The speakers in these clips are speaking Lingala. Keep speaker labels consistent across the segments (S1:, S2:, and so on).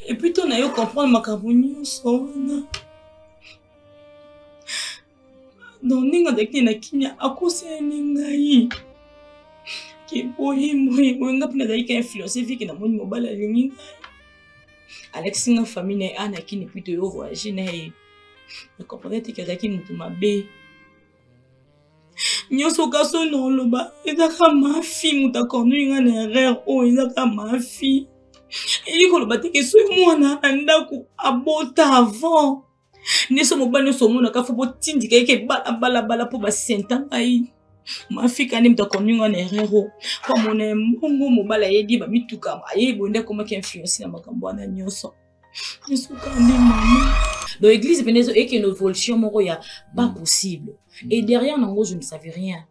S1: epito na yo comprendre makambo nyonso wana donc ndenge azalaki na kimia akosani ngai keboyi moyi moyi nga mpe nazalaki ka influence viki namoni mobali alingi ngai alakisi nga famille na ye ana kini pito yo voyage na ye na comprendre te ke azalaki motu mabe nyonso kasi oyo naoloba eza kaka mafi moto akonoi ngai na erreur oyo eza kaka mafi elingi koloba te ke soki mwana na ndako abota avant nyonso mobali nyonso omonaka fo botindika yeke balabalabala mpo basenta ngai mafika nde moto akonoi ngai na erreur oyo mpo amona mbongo mobali ayebi bamituka ayebi bonde akomaki influence na makambo wana nyonso Donc l'église venait et que une évolution moko ya pas mm. possible. Et derrière nango je ne savais rien.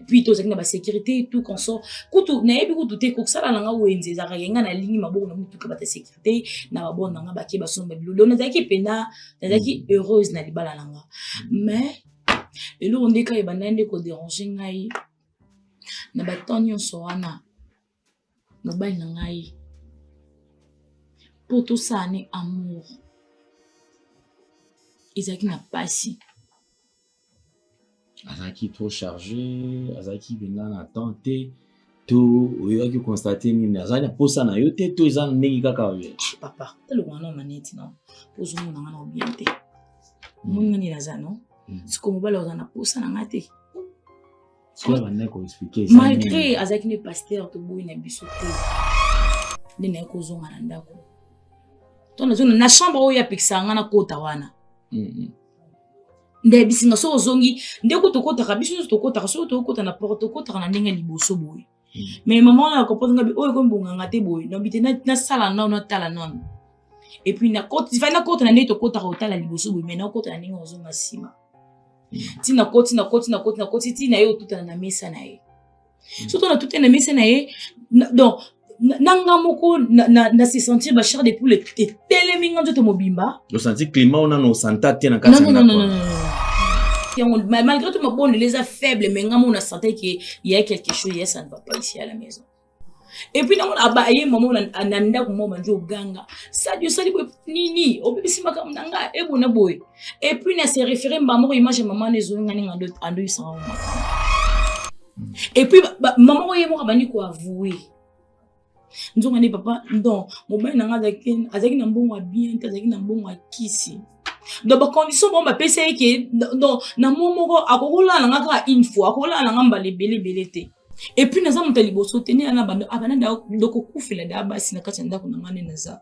S1: puis tozalaki na basécurité tout consort kutu nayebi kutu te kokosala na nga wenze ezalaka yenga na lingi maboko na motuka bata sécurité na babona na nga bake basomba bilolo nazalaki mpena nazalaki mm. heureuse na libala na nga mais eloko nde kaka ebandaki nde koderange ngai na batemp nyonso wana mobali na ngai mpo tosala ne amour ezalaki na mpasi
S2: azalaki trop chargé azalaki mpenza na temps te to oyebaki constate nini azali na mposa na yo te to eza ndenge kaka oye ah, papa toloko wana
S1: maneti no ozomona nga na obien te omoni hmm. ngani naza no hmm. siko mobali oza na mposa na nga te
S2: malgré azalaki nde
S1: paster toboyi na biso te nde naye kozonga na ndako to nazonga na chambre oyo apekisaka nga nakota wana mm-hmm. nde ayebisi nga soki ozongi nde ko tokotaka biso nyonso tokotaka soki tokokota na porte tokotaka na ndenge ya liboso boye mais mama wana akopoza ngabi oyo ekomi bonganga te boye nabi te nasala nano natala nano epuis fai nakota na ndenge tokotaka otala liboso boye mai nakota na ndenge ozonga nsima ti nakoti nakoti nakoti nakoti ti na ye otutana na mesa na ye hmm. soto natutani na mesa na ye donc na nga moko na se sentir bachar de poule etelemi nga nzoto mobimba osanti climat oyo
S2: nano osanta te na kati ya ndako
S1: yango malgré tout mabondeli eza faible mais nga mona sentais que y a quelque chose ya ça ne va pas ici à la maison et puis namona aba ye mama na ndako moko bandi oganga sadi osali boye nini obebisi makambo na nga ebona boye et puis na se référé mbamoko image ya mama na ezoli nga ninga andoyisanga makambo et puis mama oyo ye moko abandi koavoue nzonga nde papa don mobali na ngai azalaki na mbongo ya bien te azalaki na mbongo ya kisi donc bacondition bango bapesa ye ke donc na mwa moko akokolala na nga kaka une fois akokolala na nga mbala ebele ebele te epuis naza moto ya liboso te nde abanda doko kufela da basi na kati ya ndako na ngai nde naza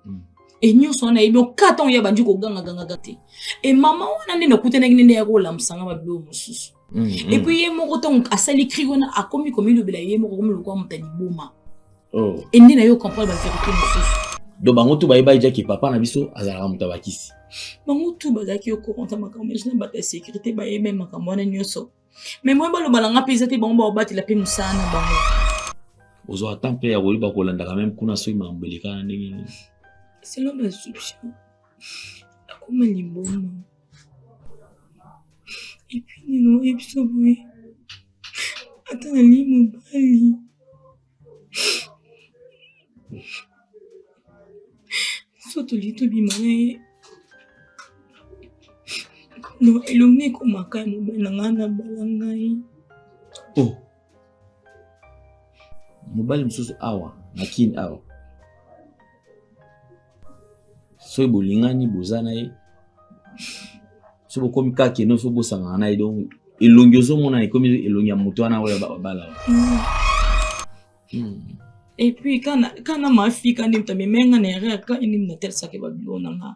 S1: mm. e nyonso wana yebi oka ntango ye abandi kogangagangaka te e mama wana nde nakutanaki nde nde ya kolamusa nga babilo mosusu mm, mm. epuis ye moko ntango asali kri wana akomi komilobela ye moko akomi lokola moto ya liboma oh. e
S2: nde na yo comprendre
S1: baverité mosusu do bango tu bayeba
S2: ejaki papa na biso azalaka moto ya bakisi bango tu
S1: bazalaki yo kokonta makambo nyonso na bato ya sécurité bayebe makambo wana nyonso Mais moi baloba na nga pe eza te bango ba obatela pe musala na bango. Ozo ata
S2: mpe ya koyeba kolanda quand même kuna soki mambo elekana ndenge nini. Selon
S1: ba soupçon. Akoma limboma. Et puis nino ebiso boye. Ata na limo bali. so tolingi tobima na ye no elongi ekomaka ya mobali na ngai na bala ngai o oh.
S2: mobali mosusu awa na kini awa soki bolingani boza na ye soki bokomi kaka kende soki bosangana na ye donc elongi ozomona ekomi elongi ya moto wana oyo babala
S1: epuis kana mafi kani moto amemenga na erreur kani nini natalisaki babilo na nga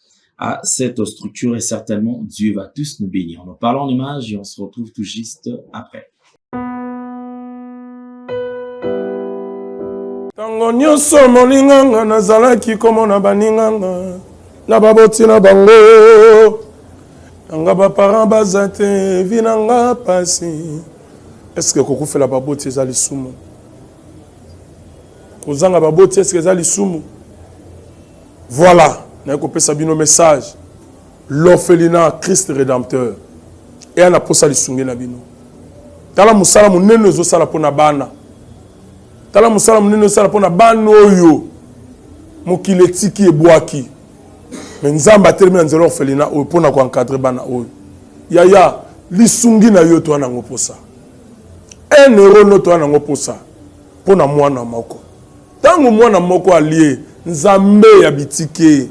S2: à cette structure et certainement Dieu va tous nous bénir. Nous parlons en image et on se retrouve tout juste après.
S3: ntango nyonso molinganga nazalaki komona baninganga na baboti na bango nanga baparent baza te vi na nga mpasi eske kokufela baboti eza lisumu kozanga baboti eske eza lisumu Voilà, naye kopesa bino message. L'orphelinat Christ Rédempteur. Et ana posa lisungi na bino. Tala musala munene ezo sala pona bana. Tala musala munene ezo sala pona bana oyo mokili etiki ebwaki. Mais Nzambe atelemi na nzela orphelinat oyo pona ko encadrer bana oyo. Yaya, lisungi na yo to ana ngoposa. Un euro no to ana ngoposa. Mpo na mwana moko. Ntango mwana moko alie, Nzambe ya bitike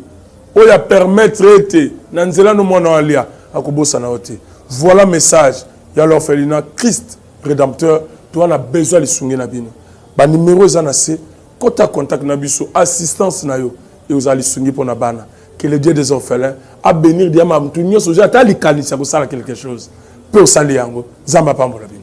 S3: oyo a permettre ete na nzela no mwana oyo alia, akobosana yo te. Voilà message ya l'orphelinat Christ Redempteur. Toza na besoin ya lisungi na bino. Ba numero eza na se. Kota contact na biso. Assistance na yo ekozala lisungi mpo na bana. Que le Dieu des orphelins a benir diamba moto nyonso ozwi ata likanisi ya kosala quelque chose mpe osali yango. Nzambe apambola bino.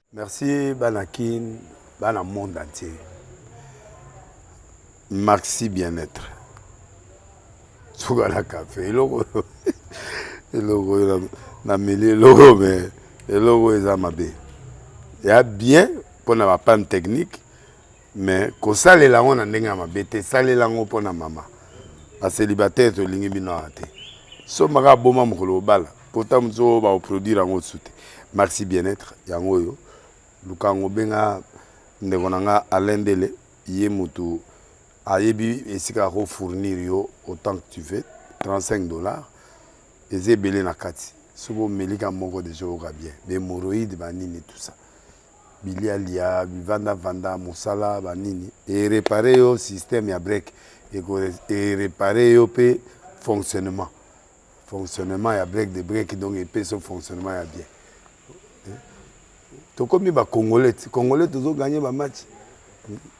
S2: Merci bana
S4: kin bana monde entier maxi bien être suka na cafe eloko oyo eloko oyo na meli eloko me eloko oyo eza mabe ya bien mpona bapane technique Mais kosalela yango na ndenge ya mabe te, salela yango mpo na mama. Bacelibataire tolingi bino awa te. Somba kaka boma mokolo obala, pota mosusu oyo bakoproduire yango lisusu te. Maxi bien-être yango oyo, luka yango, benga ndeko na nga Alain Ndele, ye motu ayebi esika ako fournir yo autant que tu veux 35 dollars eza ebele na kati soki omeli ka moko deja oyoka bien bemoroïde banini tout ça bilia lia bivanda vanda musala ba nini e reparer yo système ya break eko e reparer yo pe fonctionnement fonctionnement ya break de break donc epesa yo fonctionnement ya bien tokomi ba congolais ti congolais tozo gagner ba match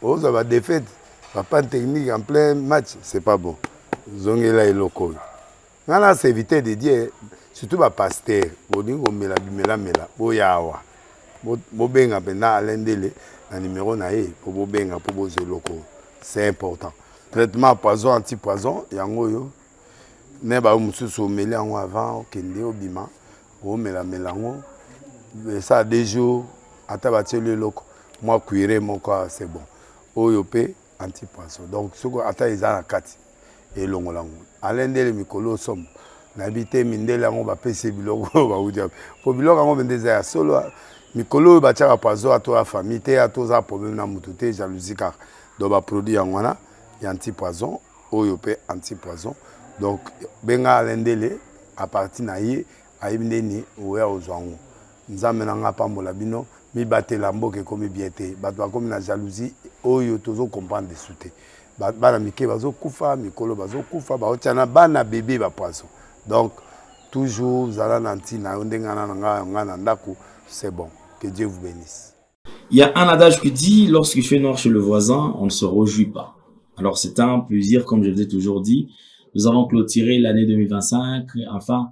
S4: ozwa ba defaite ba panne technique en plein match c'est pas bon zongela eloko oyo nga na serviteur de dieu surtout ba pasteur bolingi komela bimelamela boya awa bobenga mpenza alain ndele na numero na ye mpo bobenga mpo bozwa eloko c'est important traitement poison anti poison yango oyo ne bayo mosusu omeli yango avant okende obima omelamela yango esala deux jours ata batieli eloko mwa cuire moko c'est bon oyo mpe Antipanso donc soki ata eza na kati elongola yango alain ndele mikolo osomo nayebi te mindele yango bapesi biloko oyo bauti wapi mpo biloko yango mpenza eza ya solo mikolo oyo batyaka pazo ato ya famille te ato oza problème na motu te jalousie kaka donc baproduit yango wana ya anti poison oyo mpe anti poison donc benga alain ndele apartir na ye ayebi nde nini oya ozwa yango Nzambe na nga apambola bino mibatela mboka ekomi bien te batu bakomi na jalousie oyo tozo comprendre lisusu te bana mike bazo kufa mikolo bazo kufa baotia na bana bebe ba poison donc toujours zala na ntina yo ndenge ana na nga nga na ndako c'est bon que Dieu vous bénisse Il y a un
S2: adage qui dit, lorsqu'il fait noir chez le voisin, on ne se réjouit pas. Alors c'est un plaisir, comme je vous ai toujours dit. Nous avons clôturé l'année 2025, enfin,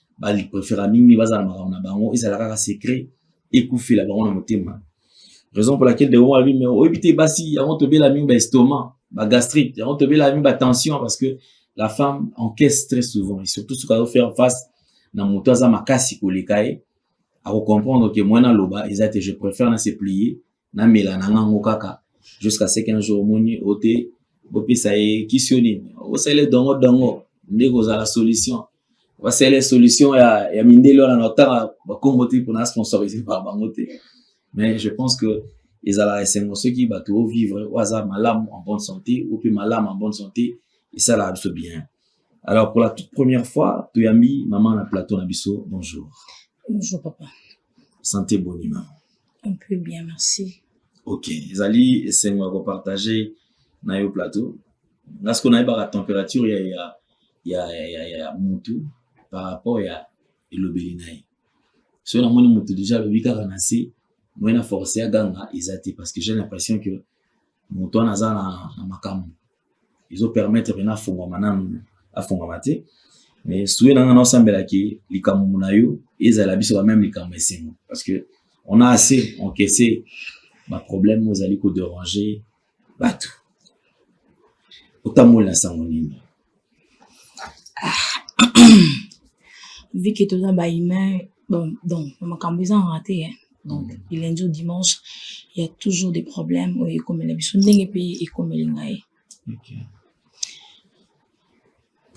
S2: bali prefera mingi bazala makambo na bango ezala kaka secret ekufela bango na motema raison pour laquelle dewo alobi me oyebi te basi yango tobela mingi ba estomac ba gastrite yango tobela mingi ba tension parce que la femme encaisse très souvent et surtout soki azo faire face na moto aza makasi koleka ye akocomprendre ke mwana aloba eza te je préfère na se plier na mela na ngango kaka jusqu'à ce qu'un jour omoni ote bopesa ye kisio nini osele dongo dongo nde kozala solution basele solution ya, ya mindele wana na otanga bakombo te mpona sponsorise pa bango te mais je pense que ezalaka esengo soki bato ovivre oyo aza malamu en bonne santé oyo mpe malamu en bonne santé esalaka biso bien alors pour la toute première fois toyambi mama na plateau na biso bonjour bonjour papa
S1: sante
S2: boni mama un peu bien
S1: merci ok ezali
S2: esengo ya kopartage na yo plateau nga siko nayebaka température ya, ya, ya, ya, ya, ya mutu par rapport ya elobeli na ye soki namoni mutu deja alobi kaka na se moye na force ya ganga eza te parce que j'ai l'impression que moto wana aza na, na makambo ezo permettre pena afongwama nanu afongwama te mais souye na nga naosambela ke likambo na yo ezala biso ba meme likambo esengo parce que on a assez encaissé ba problème ozali ko déranger bato otamboli na sango nini
S1: vu que toza ba humain bon donc makambo eza nga te hein donc mm. du lundi au dimanche il y a toujours des problèmes oyo ekomela biso ndenge mpe ekomeli ngai okay.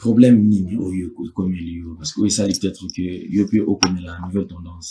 S2: problème nini oyo ekomeli yo parce que oyo esali peut-être que yo mpe okomela nouvelle tendance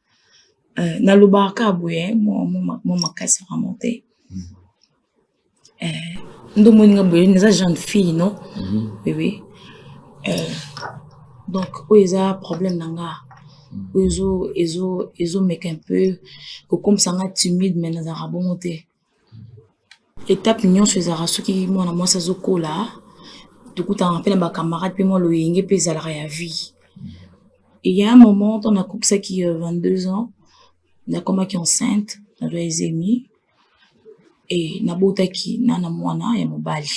S1: euh, nalobaka kaka boye mwa makasi vraiment te mm. euh, nde omoni nga boye naza jeune fille non mm-hmm. oui oui euh, donc oyo eza problème na nga mm. oyo ezomeka un peu kokomisa nga timide mais nazalaka bongo te Etape nyonso ezalaka soki mwana mwasi azokola tokutanaka mpe na ba camarade mpe mwa loyenge mpe ezalaka ya vie il ya un moment temps nakokisaki 22 ans nakomaki enceinte na zemi et nabotaki na mwana ya mobali.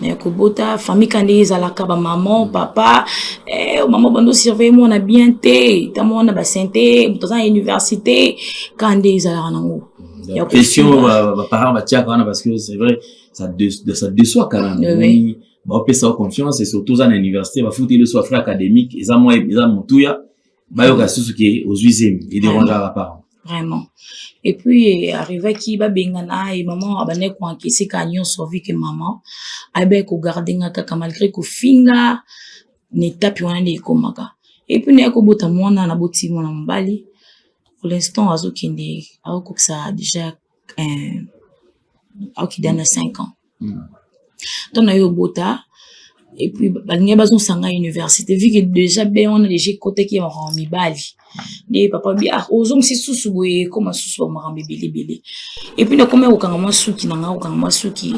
S1: na ya kobota famille ka ndenge ezalaka bamaman papa eh, mama bando surveille mwana bien te ta mwana basin te moto aza na université ka nde ezalaka nango pression
S2: baparent batiaka wana parce que c'est vrai ça deçoit quand même euh, oui. baopesa
S1: confiance
S2: et surtout oza na université bafuti leso afra académique eza mwa eza motuya bayoka susu ke ozwi zemi ederangeaka baparent vraiment
S1: et puis arrivaki ba bengana ye maman abandaki ko encaisser kaka nionso vu que maman ayebaki ko garder nga kaka malgre ko finga na etape wana nde ekomaka et puis naye kobota muana naboti muana mobali pour l'instant azo kende azo kokisa dejà eh, akokida na 5 ans mm. ntango na yo obota et puis balingi bazosanga université vu que déjà be wana déjà ekotaki ya makambo mibali nde papa bi ah ozongisi susu boye ekoma susu ba makambo ebelebele et puis nakomi kokanga mwa suki na ngai kokanga mwa suki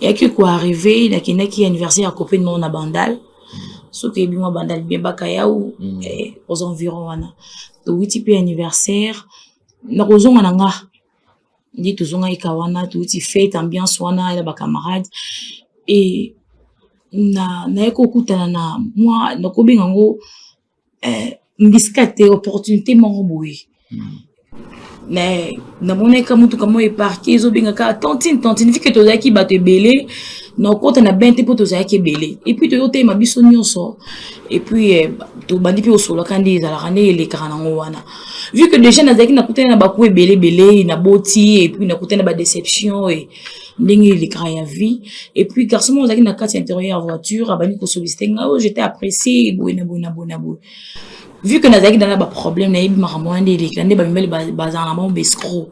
S1: eyaki koarrive nakendaki ya université ya copine moko na bandal soki eyebi mwa bandal bien bakayau mm. eh, aux environ wana towiti mpe anniversaire na kozonga na nga nde tozongaki ka wana touti fete ambiance wana ya bacamarade e na naye kokutana na mwa nakobenga yango eh, mbisika te opportunité moko boye hmm. na namonaki ka motuka moko eparke ezobengaka tantine tantine vike tozalaki bato ebele nakota na bain te mpo tozalaki ebele epuis toyoteyema biso nyonso epuis eh, tobandi mpe osolaka nde ezalaka nde elekaka nango wana vu que déjà nazalaki nakutani na baku ebele ebele naboti epuis nakutani na badeception e ndenge elekaka ya vie epuis garçon moko ozalaki na kati ya interieur ya voiture abandi kosollicite nga oyo jete apprécie boye na boye na boye na boye vu que nazalaki dana baproblème nayebi makambo wana nde elekela nde bamibali bazala na bango baescro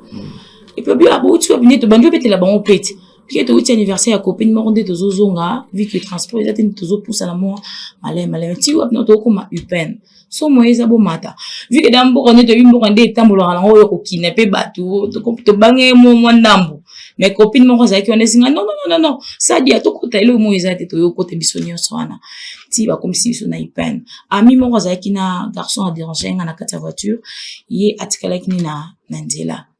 S1: epuis abouti wapi nde tobandi obetela bango pete Pike towuti anniversaire ya copine moko nde tozozonga vu que transport eza te nde tozopusana mwa malai malai ti wapi na tokokoma upn so moye eza bomata vu que da mboka nde toyebi mboka nde etambolaka nango oyo kokina mpe bato tobange mwa mwa ndambo mais copine moko azalaki wana ezinga non non non non sadia tokota eloko moko eza te toyokota biso nyonso wana ti bakomisi biso na upn ami moko azalaki na garçon aderange nga na kati ya voiture ye atikalaki ni na nzela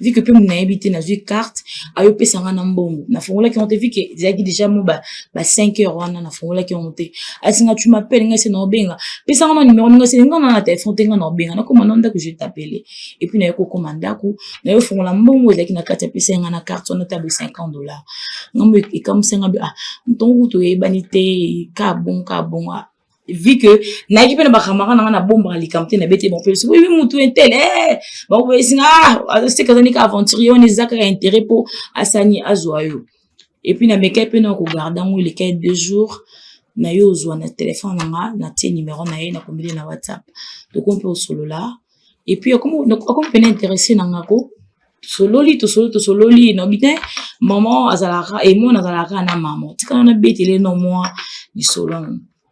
S1: vu que mpe muna yebi te nazwi carte ayo pesa nga na mbongo nafongolaki yango te vu que ezalaki déjà mo ba, ba 5 heures wana nafongolaki yango te ayesi nga tu m'appelle nga ese na obenga pesa nga na numero ninga ese nga na na telefone te nga na obenga nakoma na ndako je t'appele epuis nayo kokoma ndako nayo fongola mbongo ezalaki na kati apesa nga na carte wana tabo 50 dollars ngambo ekamwisa nga bi ah motongo kutu oyebani te ka bon ka bon ah vu que nayaki mpe na bakamara na nga nabombaka likambo te nabete bango mpe soki oyebi motu intele eh, bango bayesinga ah, azoseka azali ka aventurier wana eza kaka intérêt mpo asani azwa yo epuis namekaki mpe na kogarde yango elekaki deux jours na yo ozwa na telefone na nga natie numero na ye nakomeli na whatsapp tokomi mpe osolola et puis okomi pena interesse na nga ko tosololi tosololi tosololi naobi te maman azalaka emona azalaka na mama tikana na betele no mwa lisolo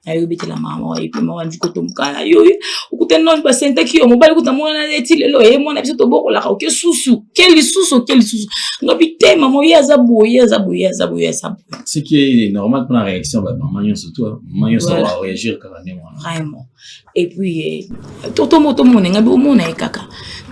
S1: nayo obetela mama epuis mama ndi kotomboka na yo okutani nani basentaki yo mobali kuta mwana neti lelo ye mwana biso tobokolaka oke susu ke lisusu oke lisusu ngabi te mama ye aza boye aza boye aza boye aza
S2: boye ce qui est normal mpona réaction bamama nyonso to mama nyonso bareagir kaka ndenge wana vraiment
S1: et puis eh, toto moto mona ngai bomona ye kaka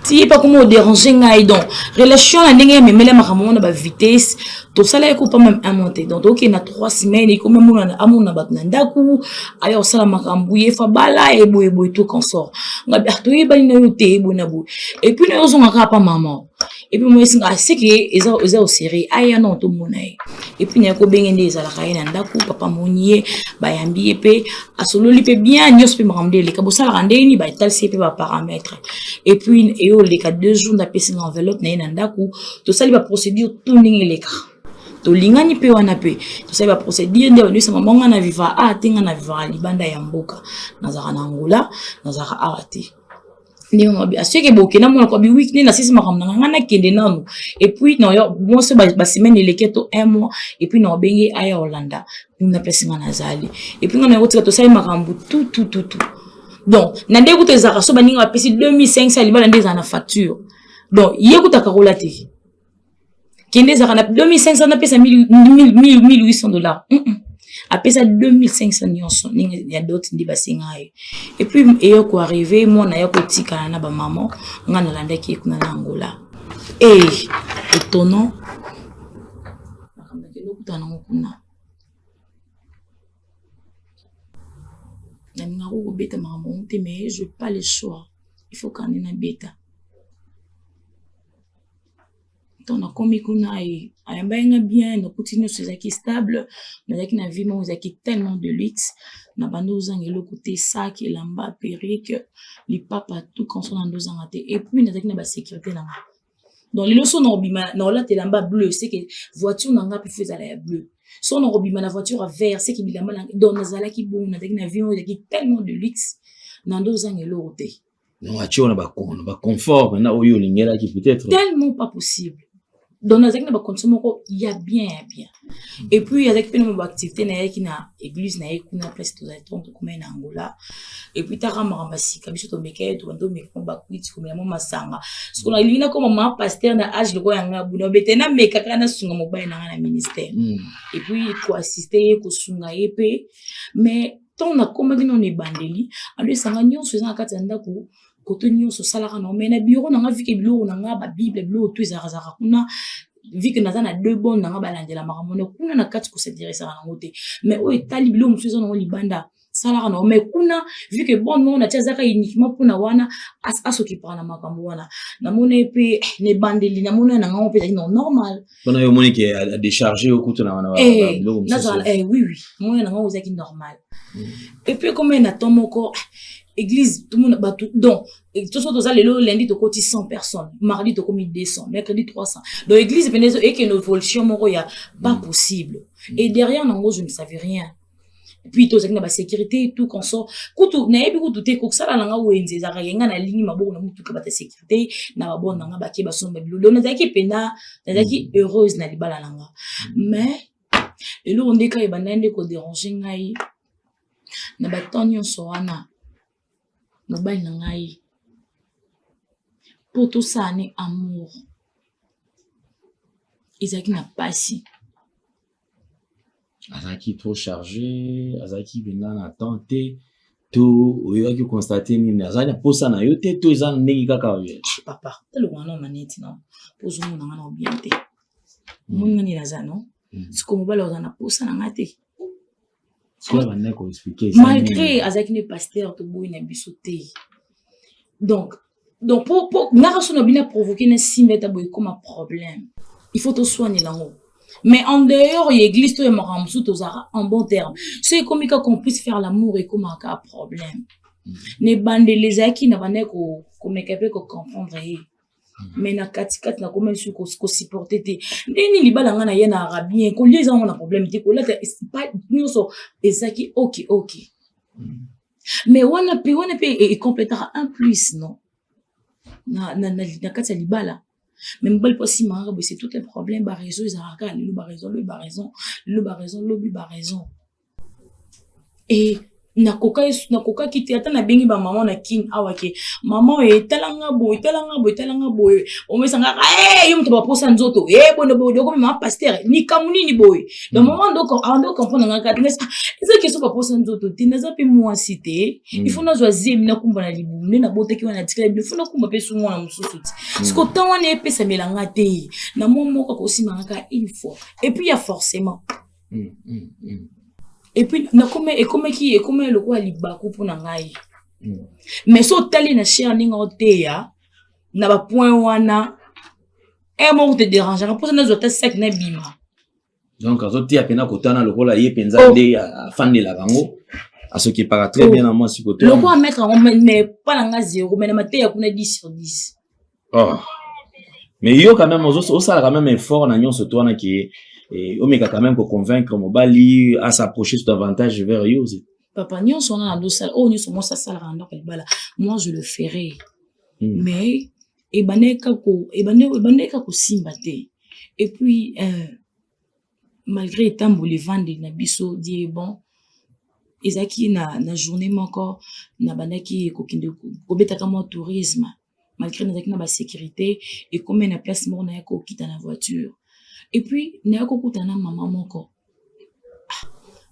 S1: ti ye pakoma oderange ngai donc relation na ndenge ya memele makambo wana bavitesse tosala ye kopa mame amon te donc tokokende na trois semaine ekoma monana amona bato na ndako aya kosala makambo ye fa bala eboyeboye to consort ngai ah, toyebani na yo te eboye na boye epuis na yo ozongaka apa mama et puis moi esinga c'est que eza eza au sérieux aya non to mona ye et puis na ko benge nde ezalaka ye na ndaku papa moni ye bayambi ye pe asololi pe bien nyos pe makambo de leka bosala ka ndenge ni ba talisi pe ba paramètres et puis et au leka deux jours na pesi na enveloppe na ye na ndaku to sali ba procédure tout ndenge leka tolingani mpe wana mpe tosali baprocédure nde bandimisa mama nga na viva a te nga na viva libanda ya mboka nazalaka na angola nazalaka awa te ndenge yango abi asoki eboke na mona kwabi wiki nde nasisi makambo na ngai nakende nanu epuis nayo bonso basemaine eleke to un mois epuis na obenge aya olanda na place ngai nazali epuis ngai nayokotika tosali makambo tutututu donc na nde kuta ezalaka so baninga bapesi 2500 libala nde ezala na facture donc ye kutaka kola te kende ezalaka na 2500 napesa 1800 dollars mm -mm. apesa 2500 nyonso ndenge ya dote nde basenga ye epuis eyo koarrive mwana ya kotikala na bamama ngai nalandaki ye kuna na angola e eh, etono nakambaki lokuta nango kuna nalingaka kobeta makambo yango te mais je pas le choix il faut kande nabeta ntango nakomi kuna ayambaki nga bien nakuti nyonso ezalaki stable nazalaki na vie moko ezalaki tellement de luxe na bandi ozanga eloko te sak elamba perike lipapa tout conso na nde ozanga te epuis nazalaki na basécurité na nga donc lelo so nakobima nakolata elamba bleu seke voiture na nga mpe fo ezala ya bleu so nakobima na voiture ya vert seke bilamba na donc nazalaki bongo nazalaki na vie moko ezalaki tellement de luxe na nde ozanga eloko te donc atye na
S2: bakono baconfort na oyo olingelaki peut-être tellement pas possible
S1: donc nazalaki na bacondition moko ya bien ya bien et puis azalaki mpe na baactivité nayaki na église na ye kuna place tozali ntongo tokomai na angola et puis taka makambo ya sika biso tomekaki tobandi omeka mwa bakwiti komela mwa masanga soko nalingi nakoma ma paster na age lokola ya ngai buna obete nameka kaka nasunga mobali na ngai na ministère et puis koassiste ye kosunga ye mpe mais ntango nakomaki nano ebandeli alo esanga nyonso eza na kati ya ndako koto nyonso osalaka nango mai na biro na nga vike biloko na nga babible biloko to ezalakazalaka kuna vike naza na deux bone na nga balandela makambo na kuna na kati kosinteresaka nango te mai oyo etali biloko mosusu eza nango libanda salaka nango mai kuna vike bone moko natia azaka uniquement mpona wana asokipaka na makambo wana namona ye mpe eh, na ebandeli namona na ngango mpe ezali na normal mpona yo omoni ke
S2: adecharge yo kutu na eh, biloko mosusu eh, oui
S1: oui moyo na ngai ozalaki normal mm. epuis ekomai na temps moko ah, église tomona bato donc toso toza lelo lundi tokoti 100 personnes mardi tokomi 200 mercredi 300 donc église mpenza ekende évolution moko ya pas mm. possible mm. et derrière nango je ne savais rien puis tozalaki na basécurité tout consort kutu nayebi kutu te kosala na nga wenze ezalaka yenga nalingi maboko na motuka bata sécurité na babone na nga bake basomba bilolo nazalaki mpena nazalaki mm. heureuse na libala na nga mais eloko nde kaka ebandai nde koderange ngai na batemp nyonso wana mobali na ngai mpo tosala ne amour ezalaki na mpasi
S2: azalaki trop charge azalaki mpenza na temps te to oyebaki constate nini azali na mposa na yo te to eza ndenge kaka papa eloko wana
S1: maneti no mpo ozomona nga na obien te omoni nga nini aza no siko mobali ozala na mposa na nga te
S2: malgré azalaki nde
S1: pasteur toboyi na biso te donc donc po po ngaka so na bino aprovoke na simba ete boye ekoma problème il faut toswanela yango mais en dehors ya église to ya makambo mosusu tozalaka en bon terme so ekomi kaka on puisse faire l'amour ekomaka kaka problème na ebandeli ezalaki na bandaki komeka mpe kocomprendre ye mais na katikati nakoma lisusu kosupporte te ndenge nini libala ngai na ye na arabien kolia eza yango na problème te kolata nyonso ezaki oki oki mais wana pe wana pe ecompletaka un plus non na, na, na, na kati ya libala me mobali mpo asimaka boye c'est tout un problème baraison ezalaka kaka lelo baraison lobi baraison lelo baraison lobi baraison e nakokaki te ata nabengi bamama na kin awa ke mama oyo etalanga boye etalanga boye etalanga boye omesangaka e yo moto baposa nzoto e eh, bono boye okomi mama pastere likambo nini boye na mama ndo ando comprendre nga kati nesa eza keso baposa nzoto te naza mpe mwasi te mm. ifo nazwa zemi nakumba na libumu nde nabotaki wana natikala bino fo nakumba mpe su mwana mosusu ti mm. siko ntango wana epesamela nga te na mwa moko akosimangaka une fois epuis ya forcement mm, mm, mm. epuis nakoma ekomaki ekomaki lokola libaku mpo na ngai mm. mais so otali na chere ndenge oteya na bapoint wana e eh, moko te derangaka mposa nazwa ata saki na bima donc
S2: azotia mpena kotana lokola ye mpenza oh. nde afandela bango asokipaka très bien na mwasi kote lokola maître yango mais
S1: mpa na nga zero mais na mateya kuna 10 sur 10 oh.
S2: mais yo quand même osala quand même effort na nyonso to wana ke eh, omeka quand même koconvaincre mobali asapproche tout avantage vers yo papa nyonso wana
S1: nazosala oyo oh, nyonso mwasi asalaka na ndako ya libala moi je le ferai hmm. mais ebandaki kaka kosimba te epuis euh, malgré etamboli evandi na biso die bon ezalaki na, na journée moko nabandaki kokende kobetaka mwa tourisme malgre nazalaki na basecurité ekomi na place moko naya kokita na voiture epuis naya kokutana na mama moko ah,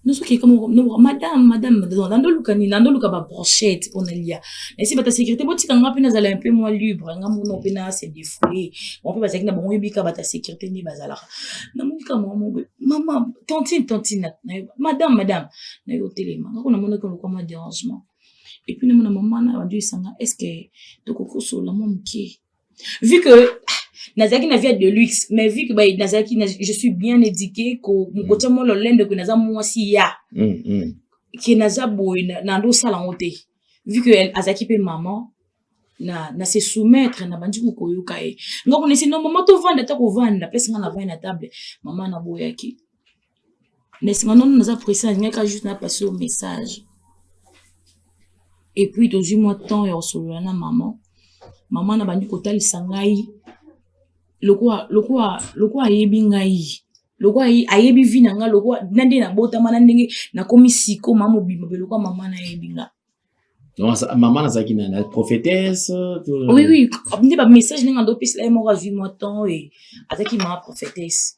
S1: nozokeka madame madame nandoluka nini nandoluka babrochette mpo nalia nasi bata sécurité botika nga mpe nazala un peu moins libre nga mona mpe na se defoule mo mpe bazalaki na bango yebika bata sécurité nde bazalaka namonika mwa mobe mama tantine tantine nayo madame madame nayo otelema ngako namonaki olokwa mwa dérangement et puis namona mama na bandi esanga est ce que tokoki kosolola mwa moke vu que ah, nazalaki na vie de luxe mais vu que bah, nazalaki je suis bien éduqué mokotia mwa lolendo ke naza mwasi ya mm, mm. ke naza boye nandosala yango te vu que azalaki mpe maman na, na se soumettre na bandi kokoyoka ye nga konesi no mama tovanda ata kovanda pesi nga na vai na table mama naboyaki mais sima nono naza presse nalingaki kaka juste na passe yo message et puis tozwi mwa temps ya kosolola na maman maman na bandi kotalisa ngai lokola lokola lokola ayebi ngai lokola ayebi vi na ngai lokola na ndenge nabotama na ndenge nakomi siko ma mobimba mpe lokola mama na yebi ngai
S2: mama nazalaki na na prophétesse oui
S1: oui nde bamessage ndenge ando opesela ye moko azwi mwa temps e azalaki mama prophétesse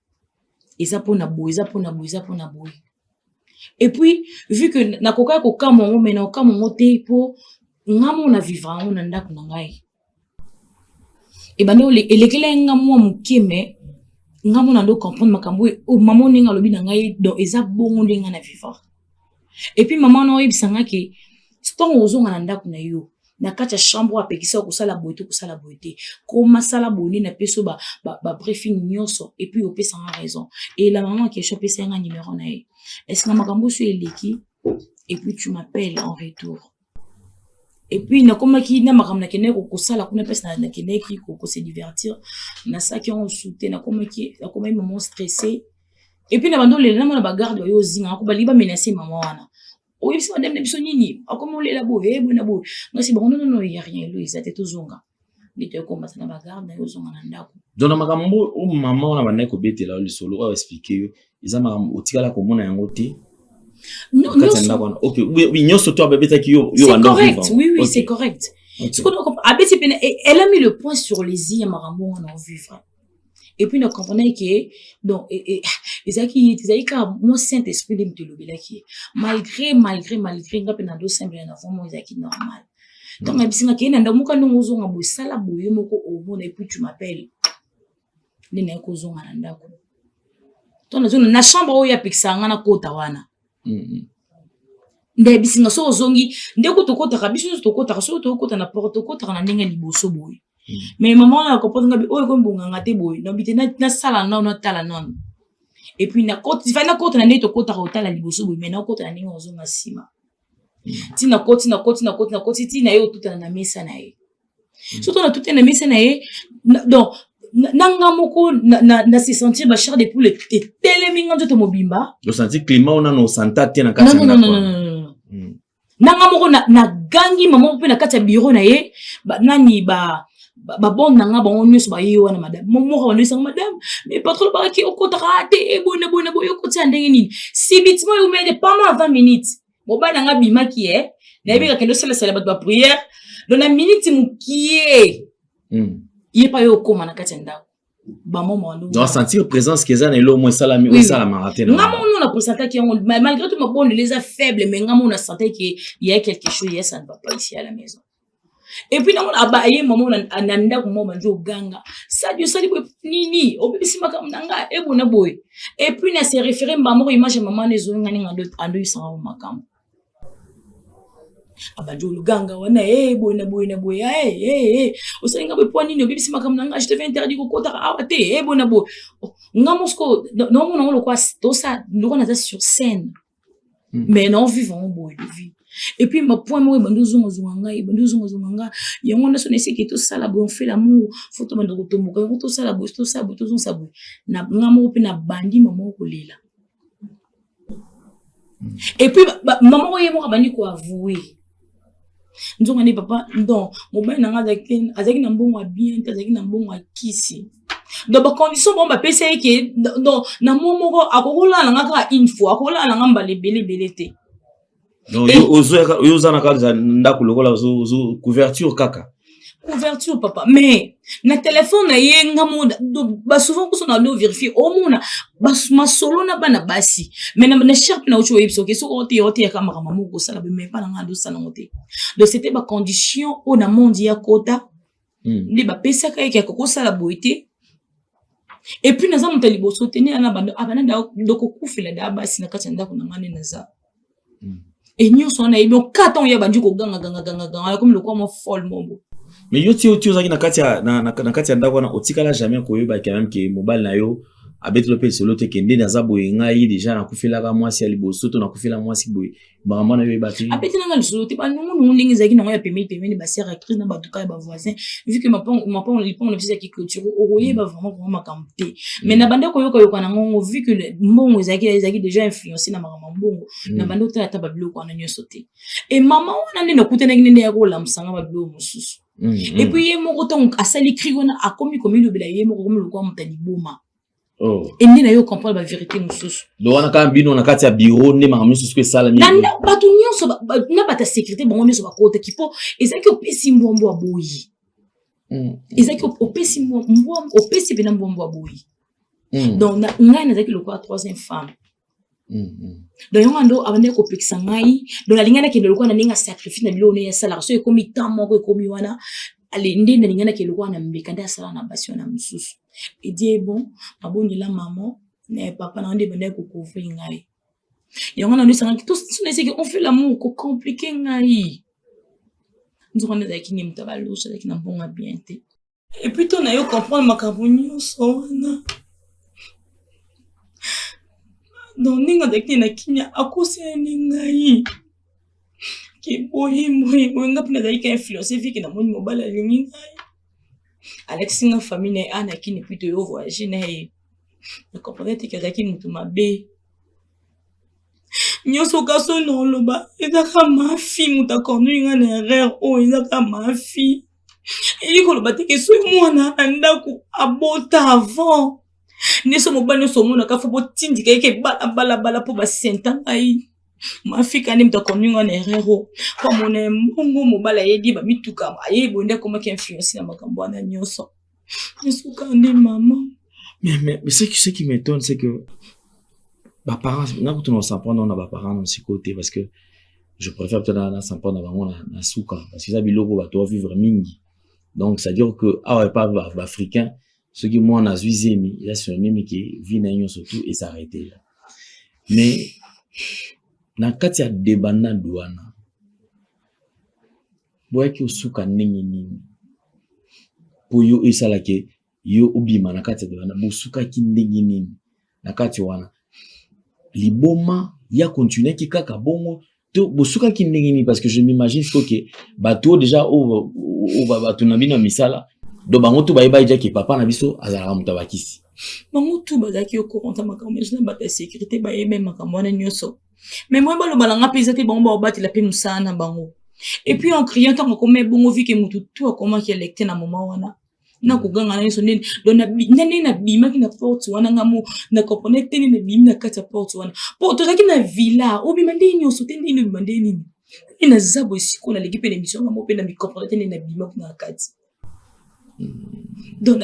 S1: eza mpo na boye eza mpo na boye eza mpo na boye epuis vu que nakokaki kokamwa yango mai na kokamwa yango te mpo nga mo na vivre yango na ndako na ngai ebanda elekelaki nga mwa moke mai nga mo na ndo comprendre makambo oyo oh, mama ndenge alobi na ngai donc eza bongo ndenge nga na vivre epuis mama na oyebisa nga ke ntango ozonga na ndako na yo na kati ya chambre oyo apekisa yo kosala boye to kosala boye te koma sala boni na peso ba, ba, ba briefing nyonso epuis opesa nga raison eyela mama ya kesho apesa yanga numero na ye eske na makambo oso eleki epuis tu m'appelle en retour epuis nakomaki na makambo nakendaki kokosala kuna mpasi nakendaki kose divertir nasalaki yango mosusu te nakomaki nakomaki mama stresse epuis na bando olela namona bagarde bayo ozinga ako balingi bamenase mama wana oyebisi madame na biso nini akomi olela boye eh, boye na boye nasi bango nonono ya rien elo eza te tozonga nde toyekombata na bagarde na yo ozonga na ndako donc na makambo o
S2: mama wana bandaki kobetela yo lisolo oyo explike yo eza makambo otikala komona yango te nyonso to ababetaki yo yo banda vivre oui oui
S1: c'est correct abeti pene elle a mis le point sur les i ya makambo wana ovivre et puis na comprenaki ke donc ezalaki ye te ezalaki kaka mwa saint esprit nde moto elobelaki ye malgré malgré malgré nga mpe na dosambela na vraimen ezalaki normal ntango na bisinga kei na ndako moka ndenge ozonga boye sala boye moko omona oh, epuis tu m'appelle nde naye kozonga na ndako to nazonga na chambre oyo apekisaka nga nakota wana mm-hmm. nde bisinga soki ozongi nde kutu okotaka biso nyonso tokotaka soki tokokota na porte okotaka na ndenge ya liboso boye mais mama wana akopoza ngabi oyo ekomi bonganga te boye nabi te nasala nano natala nano epuis fai nakota na ndenge tokotaka kotala liboso boye mai nakota na ndenge ozonga nsima ti nakoti nakoti nakoti nakoti ti na ye otutana na mesa na ye soto natutana na mesa na ye donc na nga moko na se sentir ba char de poule etelemi nga nzoto mobimba osanti climat wana
S2: na osanta te na kati ya ndako
S1: nanga moko nagangi na mama mpe na kati ya biro na ye ba, nani ba babonde na nga bango nyonso baye wana madame moko bandesanga madame mais patron bakaki okotaka te ebona bona boye okotia ndenge nini sibitima oyo omede pendant 20 minutes mobali na nga bimaki ye eh. nayebi kakende osalasala bato bapriere don na miniti mokie hmm. ye pa yo okóma na kati ya ndako donc sentir présence ke
S2: eza na elo moko esalami oyo esalamaka te nga moko nona presentaki yango
S1: malgré tout mabondeli eza faible mais nga moko na sentais ke ya quelque chose ya ça ne va pas ici à la maison epuis nango aye mama na ndako moko bandi oganga sadi osali boye nini obebisi makambo na ngai ebona boye epuis na se référé mbamoko image ya mama na ezonga ninga ando yisanga makambo abandi oluganga wana e boye na boye na boye ee osali nga boye mpo nini obebisi makambo na nga je te fais interdit kokotaka awa te e boye na boye oh, nga mosiko naomona ngo lokwa tosa lokwa naza sur scène hmm. mais nao vivre yango boye de vie et puis bapoint moko ebandi ozongazonga ngai ebandi ozongazonga ngai yango nyonso na esiki tosala boye onfait lamour fo tobanda kotomboka yango tosala boye tosala boye tozongisa boye na nga moko mpe nabandi mama okolela et puis mama oyo ye moko abandi koavoue nzonga nde papa don mobali na ngai azalaki na mbongo ya bien te azalaki na mbongo ya kisi donc bacondition bango bapesa ye ke donc na mwa moko akokolala na ngai kaka une fois akokolala na ngai mbala ebele ebele te donc yo
S2: ozo yo oza na kati ya ndako lokola ozo couverture kaka couverture
S1: papa mais na telefone na ye nga mona basouvent kuso na lo verifie omona masolo na bana basi mai na sharpe na uti oyebisa oke soki ote oteyaka makambo moko kosala bemai bana nga adosala yango te donc c'était bacondition oyo na mondi ya kota hmm. nde bapesaka yeke akoki kosala boye te epuis naza moto ya liboso te nde ana bando abana ah, dokokufela da basi na kati ya ndako na ngai nde naza hmm. e nyonso wana yebi oka ntango ye abandi koganga ganga ganga ganga yakomi lokola mwa fol mobo mais yo ti yo ti
S2: ozalaki na kati ya na, na, na kati ya ndako wana otikala jamais koyeba quand même ke mobali na yo abetelo mpe lisolo te kende naza boye ngai deja nakufelaka mwasi ya liboso to nakufela mwasi boye maman nayo eyeba te apeti nanga lisolo te
S1: banungunungu ndenge ezalaki nango ya pembeni pembeni basere actrice na batuka ya bavoisin vu que mapango lipango na biso ezalaki clôture okoyeba mm. vraiment vraiment makambo te mm. mais na banda koyoka yoka na ngongo vu que mbongo ezalaki ezalaki déjà influencé na makambo ya mbongo na mm. banda otala ata babiloko wana nyonso te e mama wana nde nakutanaki nde nde ya kolamusanga babiloko mosusu epuis ye moko ntango asali cri wana akomi komilobela ye moko komi lokola moto ya liboma Oh.
S2: ende na yo comprendre
S1: ba verité mosusu do wana kaka bino na
S2: kati ya bureau nde makambo nyonso soki esalami bato nyonso
S1: na bato ya sécurité bango nyonso bakotaki mpo ezalaki opesi mbwambwa boyi hmm. ezalaki opesi opesi mpena mbwambwa boyi hmm. donc ngai nazalaki lokola troisième femme Mm, mm. donc yango ando abandaki kopekisa ngai donc nalingai nakende lokola na ndenge ya sacrifice na biloko ndenge asalaka so ekomi temps moko ekomi wana nde nalingai nakende lokola na mbeka nde asala na basi wana mosusu edie bon abondela mama na papa na nde ebandaki kokouvri ngai yango nano esangaki tonaeseki on fait lamour kocomplike ngai nzoka nde azalaki nde moto ya baloso azalaki na mbongo ya bien te epuis to na yo comprendre makambo nyonso wana donc ndenge azalaki na kimia akosani ngai ke boye boye boye nga mpe nazalaki ka influence vike na moni mobali alingi ngai alakisi nga famille na ye ana kini epuis toyo voyage na ye na comprendre te ke azalaki motu mabe nyonso kasi oyo na oloba ezaka mafi moto akornui nga na erreur oyo ezaka mafi elingi koloba te ke soki mwana na ndako abota avant nde so mobali nyonso omonaka fo botindika yeke bala bala bala mpo basenta ngai mafika nde moto akoninga na erreur o mpo amona mbongo mobali ayebi bamituka ayebi bonde akomaki influence na makambo wana nyonso esukandi mama mais, mais, mais ce,
S2: qui, ce qui m'étonne c'est que baparent nakutu na osamprendre wana baparent na sikoyo te parce que je préfère peut-être na samprendre na bango na suka parce que eza biloko bato ba vivre mingi donc c'est à dire que awa epa baafricain soki mwana azwi zemi eza synonyme ke vie na ye nyonso tout esarrete la mais na kati ya debana duana boyaki osuka ndenge nini mpo yo esalaki yo obima na kati ya wana bosukaki ndenge nini na kati wana liboma ya continuaki kaka bongo to bosukaki ndenge nini parce que je m'imagine faut que bato oyo déjà oyo bato na bino ya misala donc bango to bayebaki jaki papa na biso azalaka moto ya bakisi bango tu
S1: bazalaki okokonta makambo nyonso na bato ya sécurité bayebi makambo wana nyonso mais moi baloba na nga mpe eza te bango baobatela mpe mosala na bango et puis en criant ntango akoma ebongo vike motu tu akomaki electe na moma wana na koganga na nyonso nini don ndenge nabimaki na porte wana nga mo na comprendre te nini nabimi na kati ya porte wana mpo tozalaki na villa obima ndenge nyonso te ndenge nini obima ndenge nini e naza boye sikoyo naleki mpe na emission nga mo mpe na micomprendre te nini nabimaki na kati donc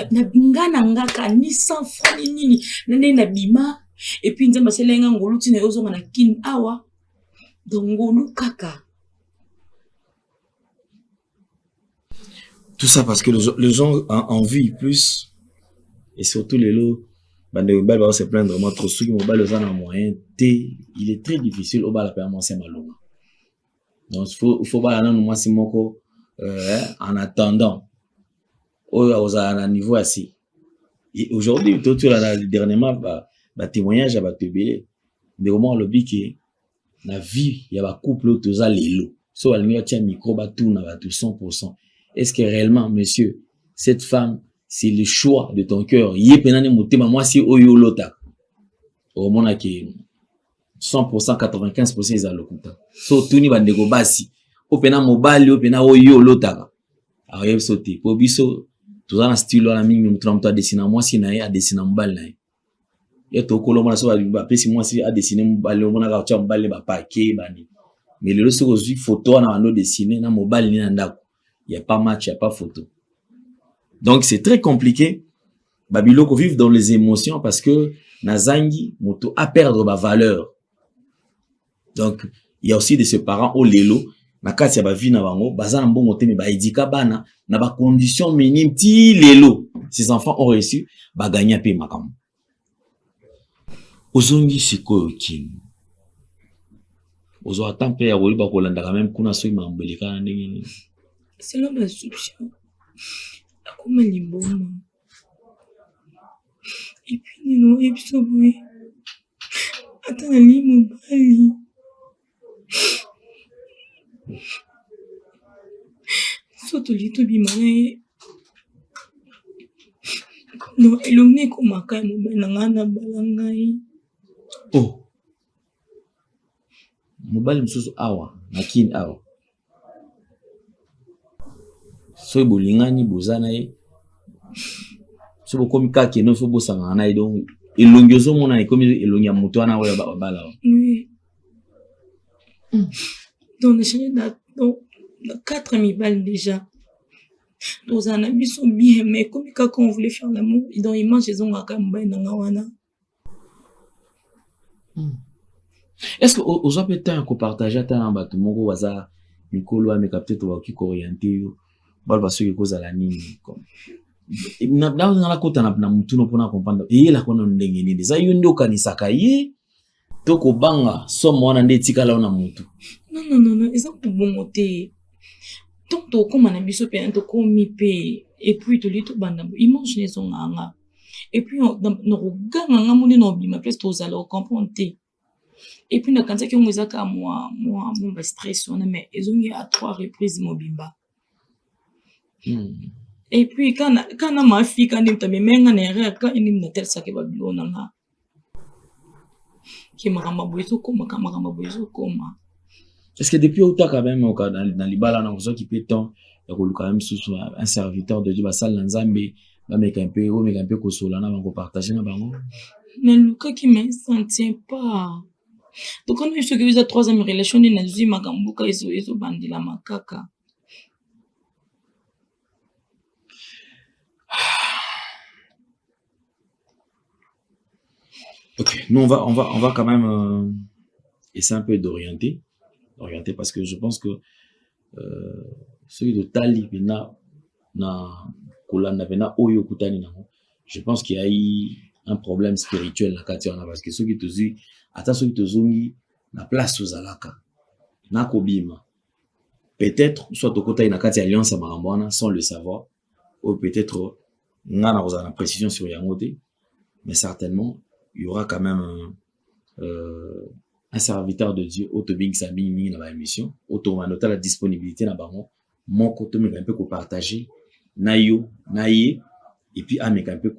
S1: nga na nga kani sans franc ni nini na nde na bima et puis nzambe asala nga ngolu ntina yo ozonga na kin awa donc ngolu kaka
S2: tout ça parce que les gens en, en vie plus et surtout les lots bandeko mibali bao se plaindre vraiment trop soki mobali oza na moyen te il est très difficile obala mpe ya mwasi ya malonga donc faut faut bala nanu mwasi moko euh, en attendant oyo akozala na niveau ya si aujourd'hui totyola na dernièrement ba, ba témoignage ya bato ebele ndeko moko alobi ke na vie ya bacouple oyo toza lelo so balingi batya micro batuna bato 100 pourcent est ce que réellement monsieur cette femme c'est le choix de ton cœur ye mpena nde motema mwasi oyo olotaka okomona ke 100% 95% eza lokuta so tuni bandeko basi oyo mpena mobali oyo mpena oyo yo olotaka akoyebi biso te mpo biso toza na style wana mingi moto na moto adesina mwasi na ye adesina mobali na ye ye tokolo omona so bapesi mwasi adesine mobali omonaka otya mobali ne bapake bani me lelo soki ozwi foto wana bando desine na mobali ne na ndako ya pa match ya pa foto donc c'est très compliqué ba biloko vivre dans les émotions parce que nazangi moto a perdre ba valeur donc il y a aussi de ce parent au lelo na kati ya bavi na bango baza na mbongo te me baedika bana na bacondition minime ti lelo ces enfants ont reussi bagagna mpe makambo Ozongi sikoyo kin ozwa ata mpe ya koyeba kolandaka meme kuna soki makambo elekana ndenge nini selo
S1: basupsio akoma limboma epuis nini oyebisa boye ata nalingi mobali so tolingi tobima na ye no elongi ekomaka ya mobali na ngai na bala ngai oh.
S2: mobali mosusu awa na kini awa soki bolingani boza na ye soki bokomi kaka keno soki bosangana na ye donc elongi ozomona ekomi elongi ya moto wana oyo babala wa
S1: donc echange na quatre mibale déjà tozala na biso bien mais ekomi kaka on voulait faire lamour donc image ezongaka mobali na nga wana
S2: Hmm. Est-ce que oza pe temps ya ko partager ata na bato moko baza mikolo wana meka peut-être bakoki ko orienter yo baloba soki ekozala nini comme nakota na motuna mpona comprendre eyelaka nano ndenge nini eza yo nde okanisaka ye to kobanga somo wana nde etikala na motu nonnonono eza
S1: kobongo te ntango tokokóma na biso mpe tokomi mpe epuis toli tobanda image na ezongaka nga epuis na koganga nga moni na obima mpe tozala ocomprendre te epuis nakanisaki yango eza kaka mwa mwa mwa bastress wana mais ezongi a trois reprise mobimba hmm. epuis kana mafika nde moto amemenga na erreur ka nde moto atalisaki babilo na nga ke makambo ya boye ezokoma ka makambo ya boye ezokoma est
S2: ce que depuis otaka meme oka na, na libala na ozwaki mpe temps ya koluka meme susu un serviteur de dieu basali na nzambe bameka mpe omeka mpe kosola na bango partage na bango nalukaki
S1: mais ça ne tient pas tokani biso soki eza troisième relation nde nazwi makambo boka ezobandelama kaka
S2: Ok, nous on va, on va, on va quand même euh, essayer un peu d'orienter, d'orienter parce que je pense que euh, celui de Tali Pena, na Kolanda Pena, Oyo Kutani Nango, je pense qu'il y a eu un problème spirituel na kati wana parce que soki tozwi ata soki tozongi na place tozalaka nakobima peut-être soit tokotaki na kati ya alliance ya makambo wana sans le savoir oyo peut-être nga na kozala na précision sur yango te mais certainement il y aura quand même un, euh, un serviteur de dieu oyo tobengisa mingi mingi na baémission oyo tokobanda otala disponibilité na bango moko tomeka mpe kopartage na yo na ye epuis ameka mpe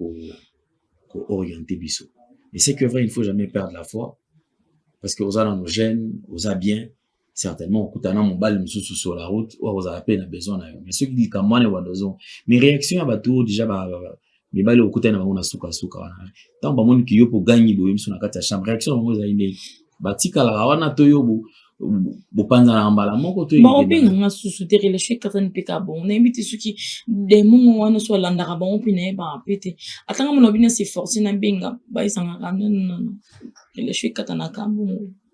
S2: kooriente ko biso et c'est que vrai il ne faut jamais perdre la foi parce que oza nano jeune oza bien certainement okutana mobali mosusu sur la route oyo akozala mpe na besoin na yo mais soki likambo wana ebanda ozonga mais réaction ya bato oyo déjà mibali okutani na bango na sukasuka wana ntango bamoni kiyo mpo ogangi boye miso na kati ya chambre réaction na bango ezali ndenge batikalaka wana to yo bopanzanaka mbala moko to baobenga nga susu
S1: te relation ekatani mpe ka bongo nayebi te soki demongo wana so alandaka bango mpe nayebaka mpe te atanga mona bino se force nabenga bayisangaka nononono relation ekatanaka bongo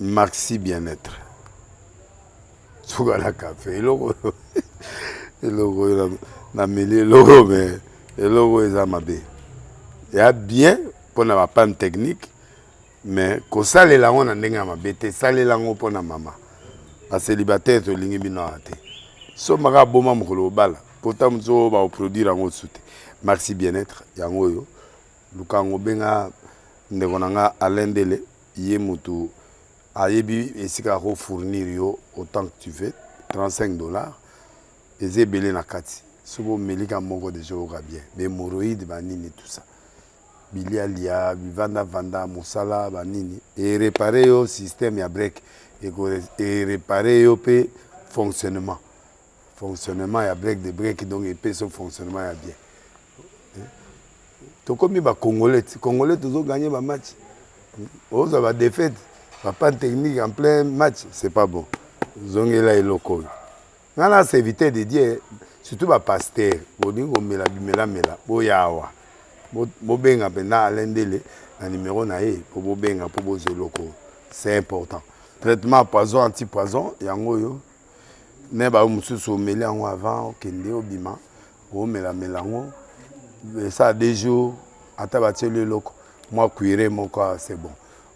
S4: Maxi bien etre suka na cafe eloko eloko oyo na meli eloko me eloko oyo eza mabe ya bien mpo na bapane technique mais kosalela yango na ndenge ya mabe te salela yango mpo na mama baselibataire tolingi bino awa te sombaka aboma mokolo obala pota mosusu oyo baoproduire yango osu te maxi bien-être yango oyo luka yango obenga ndeko na nga alain dele Ye mutu ayebi esika ako fournir yo autant que tu veux 35 dollars eza ebele na kati soki omeli ka moko deja oyoka bien ba hemorroïdes ba nini tout ça bilia lia bivanda vanda musala ba nini e reparer yo système ya break eko e reparer yo pe fonctionnement Fonctionnement ya break de break donc epesi yo fonctionnement ya bien. Tokomi ba congolais, ti congolais tozo gagner ba match. Oza ba défaite, ba panne technique en plein match, c'est pas bon. Zongela eloko oyo. Nga na serviteur de Dieu, surtout ba pasteurs, bolingi komela bimela mela, boya awa. Bobenga mpenza Alain Ndele na numero na ye mpo bobenga mpo bozwa eloko oyo. C'est important. Traitement poison anti-poison yango oyo. mais ba mususu omeli yango avant okende obima omela mela yango ça deux jours ata batieli eloko mwa cuire moko c'est bon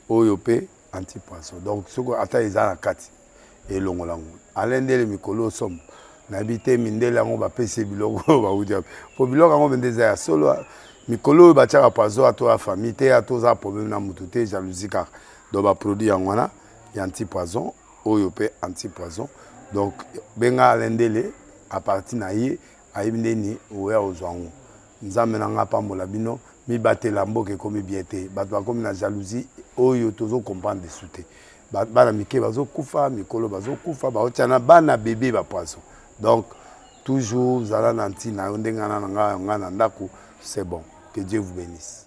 S4: oyo pe anti poisson donc soki ata eza na kati elongola yango ale ndele mikolo osomo nayebi te mindele yango bapesi biloko oyo bauti wapi mpo biloko yango mende eza ya solo mikolo oyo batiaka poison ato ya famille te ato oza problème na motu te jalousie kaka donc baproduit yango wana ya anti poison Oyo pe anti poison donc benga Alain ndele a parti na ye ayebi ndeni oya ozua ngo nzambe na nga apambola bino mibatela mboka ekomi bien te batu bakomi na jalousie oyo tozo comprendre lisu te bana mike bazo kufa mikolo bazo kufa baotia na bana bebe ba poison donc toujours zala na ntina yo ndenge na nga na nga na ndaku c'est bon que Dieu vous benisse.